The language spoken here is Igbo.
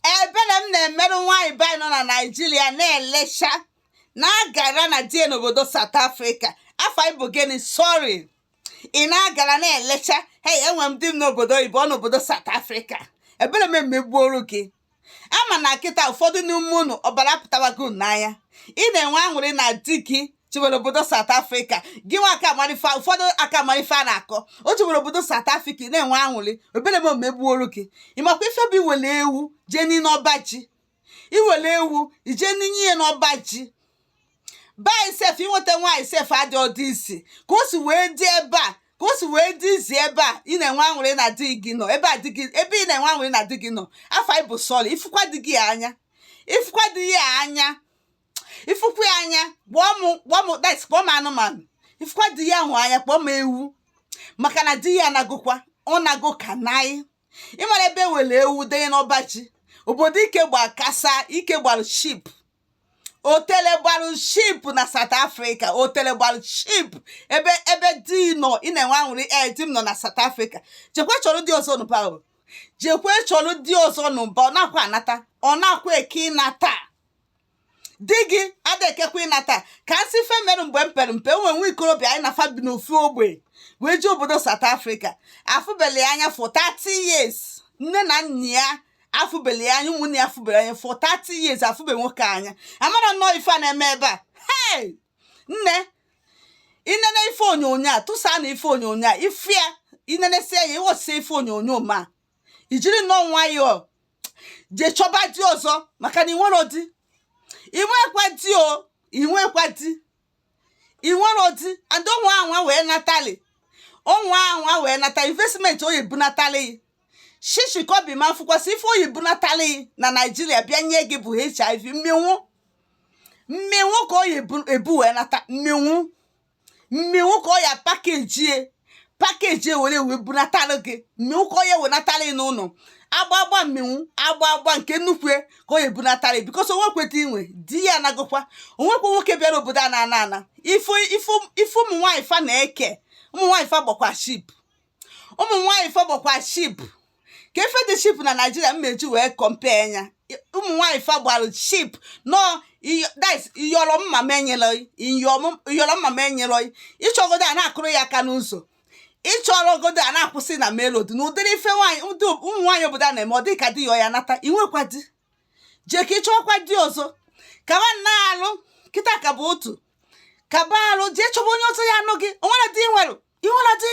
ebere m na-emere nwaanyị be anyị nọ na naijiria na-elecha na-agara na di ya n'obodo South Africa afa gị bụ gịnị sorry ị na-agara na-elecha hey enwe m di m n'obodo oyibo ọ nọ obodo South Africa ebere m emegbuoru gị ama na kịta ụfọdụ n'ime unu ọbara pụtawago unu n'anya ị na-enwe aṅụrị na di gị jebere obodo South Africa gị nwa aka amarọ ife ụfọdụ aka amarọ ife a na-akọ o jebere obodo South Africa na-enwe aṅụrị ebere m emegbuoro gị ịmakwa ife bụ iwere ewu jee n'ime ọba ji iwere ewu ije ninye ya n'ọba ji bai sef inweta nwaanyị sef adị ọ dị easy ka o si wee dị ebe a ka o si wee dị easy ebe a ị na-enwe aṅụrị na di gị nọ ebe a di gị ebe ị na-enwe aṅụrị na di gị nọ afa gị bụ sorry ị fụkwa di gị anya ị fụkwa di ya anya ị fụkwa ya anya kpọọ m kpọọ m dat kpọọ m anụmanụ ị fụkwa di ahụ anya kpọọ m ewu maka na di ya anagokwa ọ nago ka naị ị mara ebe e were ewu denye n'ọba ji obodo ike gba kasa ike gbalụ cheap otele gbalụ cheap na South Africa otele gbalụ cheap ebe ebe di nọ ị na-enwe aṅụrị ee di m nọ na South Africa jekwe chọrọ di ọzọ nụba o jekwe chọrọ di ọzọ nụba ọ nakwa anata ọ nakwa eke ịnata di gị ada ekekwa ịnata ka m sị ife mere mgbe m pere mpe o nwere nwa ikorobịa anyị na fa bi n'ofu ogbe wee jee obodo South Africa afụbele ya anya for 30 years nne na nna ya afụbele ya anya ụmụnne ya afụbele anya for 30 years afụbe nwoke anya amara nnọọ ife a na-eme ebe a hey nne i nene ife onyonyo a tụsa na ife onyonyo a ife ya i nenesịa ya ị watchịsịa ife onyonyo m a i jiri nnọọ nwayọọ jee chọba di ọzọ maka na inwero di inwekwa di o inwekwa di inwero di and ọ nwaa anwa wee natali ọ nwaa anwa wee nata investment ọ ya-ebunatalị ị shishi kọbọ ị ma fụkwasị ife ọ ya-ebunatalị ị na naijiria bịa nye gị bụ HIV mmịnwụ mmịnwụ ka ọ ya-ebu wee nata mmịnwụ mmịnwụ ka ọ ya pakejie pakejie were wee bunatara gị mmịnwụ ka ọ ya-ewenatara ị n'ụlọ agba agba mmịnwụ agba agba nke nnukwu ya ka ọ ya-ebunatara ya because o nwekwa di i nwe di ya anagokwa o nwekwa nwoke bịara obodo a na-ana ana ife ife ife ụmụ nwaanyị fa na-eke ụmụ nwaanyị fa gbakwa cheap ụmụ nwaanyị fa gbakwa cheap ka ife dị cheap na naijiria m ma-eji wee compare ya ụmụ nwaanyị fa gbara cheap nọ dis iyọrọ mma m enyere iyọrọ mma m enyere ị chọrọ godo a na-akụrụ ya aka n'ụzọ ị chọrọ godo a na-akwụsị ị na main road na ụdịrị ife nwaanyị ụmụ nwaanyị obodo a na-eme ọ dị ka di ya ya nata inwekwa di jee ka ịchọkwa di ọzọ ka mma n'arụ kịta ka bụ otu kaba arụ jee chọba onye ọzọ ya-anụ gị o nwekwa di i nwere inwekwa di